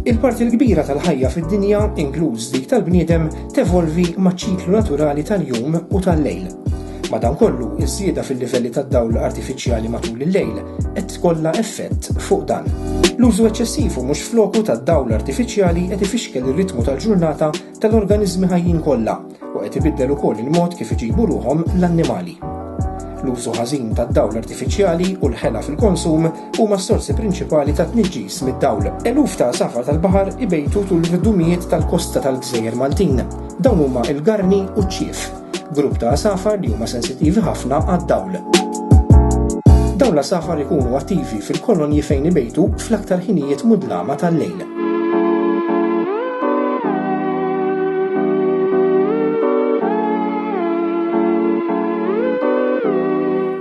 Il-parti l-kbira tal-ħajja fid-dinja, inkluż dik tal-bniedem, tevolvi maċ-ċiklu naturali tal-jum u tal-lejl. Madankollu, iż-żieda fil-livelli tad-dawl artifiċjali matul il-lejl qed tkollha effett fuq dan. L-użu eċċessiv u mhux f'loku tad-dawl artifiċjali qed ifixkel ir-ritmu tal-ġurnata tal-organiżmi ħajjin kollha u qed ibiddel ukoll il-mod kif iġibu ruħhom l-annimali. L-użu ħażin tad-dawl artifiċjali u l-ħela fil-konsum huma s-sorsi prinċipali ta' tniġġis mid-dawl. Eluf ta' għasafar tal-baħar ibejtu tul id-dumijiet tal-kosta tal-gżejjer Maltin. Dawn huma l-garni u ċ-ċief. grupp ta' għasafar li huma sensittivi ħafna għad-dawl. Dawn l-għasafar ikunu attivi fil-kolonji fejn ibejtu fl-aktar ħinijiet mudlama tal-lejl.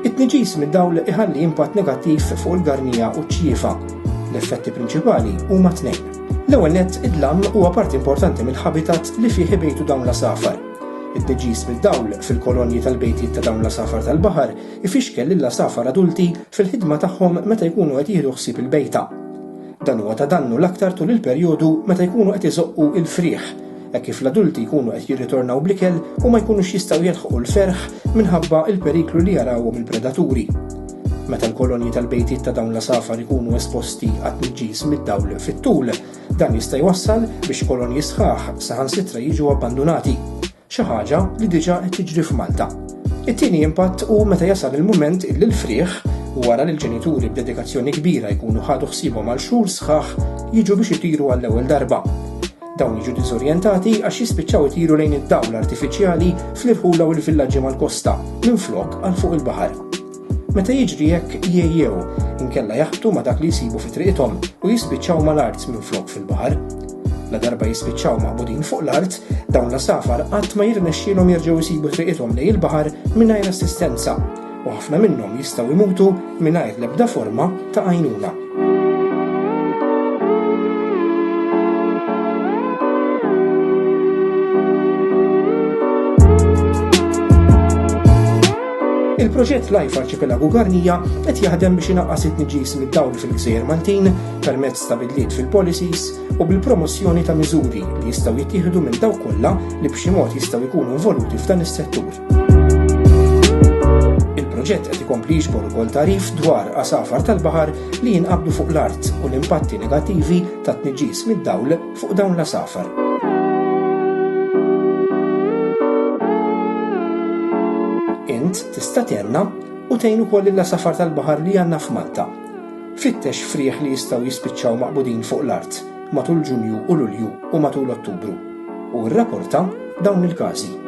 It-tniġis mid-dawl iħalli impatt negattiv fuq il-garnija u ċ-ċiefa. L-effetti prinċipali huma tnejn. L-ewwel nett id-dlam huwa parti importanti mill-habitat li fih ibejtu dawn l-asafar. It-tniġġis mid-dawl fil-kolonji tal-bejtiet ta' dawn l-għasafar tal-baħar ifixkel lill-għasafar adulti fil-ħidma tagħhom meta jkunu qed jieħdu ħsieb il-bejta. Dan huwa ta' dannu l-aktar tul il-perjodu meta jkunu qed iżoqqu l-frieħ, hekk kif l-adulti jkunu qed jirritornaw bl-ikel u ma jkunux jistgħu jilħqu l-ferħ minħabba l-periklu li jarawhom il-predaturi. Meta l-kolonji tal-bejtiet ta' dawn l-għasafar ikunu esposti għat-tniġġis mid-dawl fit-tul, Dan jista' jwassal biex kolonji sħaħ saħansitra jiġu abbandunati, xi ħaġa li diġà qed tiġri f'Malta. It-tieni impatt hu meta jasal il-mument illi l-frieħ, wara li l-ġenituri b'dedikazzjoni kbira jkunu ħadu ħsiebhom għal xhur sħaħ, jiġu biex itiru għall-ewwel darba. Dawn jiġu diżorjentati għax jispiċċaw itiru lejn id-dawl artifiċjali fl-irħula u l-villaġġi mal-kosta, minflok għal fuq il-baħar. Meta jiġri hekk jgħejjew, inkella jaħbtu ma' dak li jsibu fi triqithom u jispiċċaw mal-art minflok fil-baħar. Ladarba jispiċċaw maqbudin fuq l-art, dawn l-għasafar qatt ma jirnexxielhom jerġgħu jsibu triqithom lejn il-baħar mingħajr assistenza, u ħafna minnhom jistgħu jmutu mingħajr l-ebda forma ta' għajnuna. Il-proġett Life Arċipelagu Garnija qed jaħdem biex inaqqas it-tniġis mid-dawl fil-gżejjer Maltin permezz ta' bidliet fil-policies u bil-promozzjoni ta' miżuri li jistgħu jittieħdu minn dawk kollha li b'xi mod jistgħu jkunu involuti f'dan is-settur. Il-proġett qed ikompli jiġbor ukoll tarif dwar għasafar tal-baħar li jinqabdu fuq l-art u l-impatti negattivi tat-tniġġis mid-dawl fuq dawn l-għasafar. Int tista' tenna u tgħin ukoll il-lasafar tal-baħar li għandna f'Malta. Fittex frieħ li jistgħu jispiċċaw maqbudin fuq l-art matul Ġunju u Lulju u matul Ottubru. u rrapporta dawn il-każi.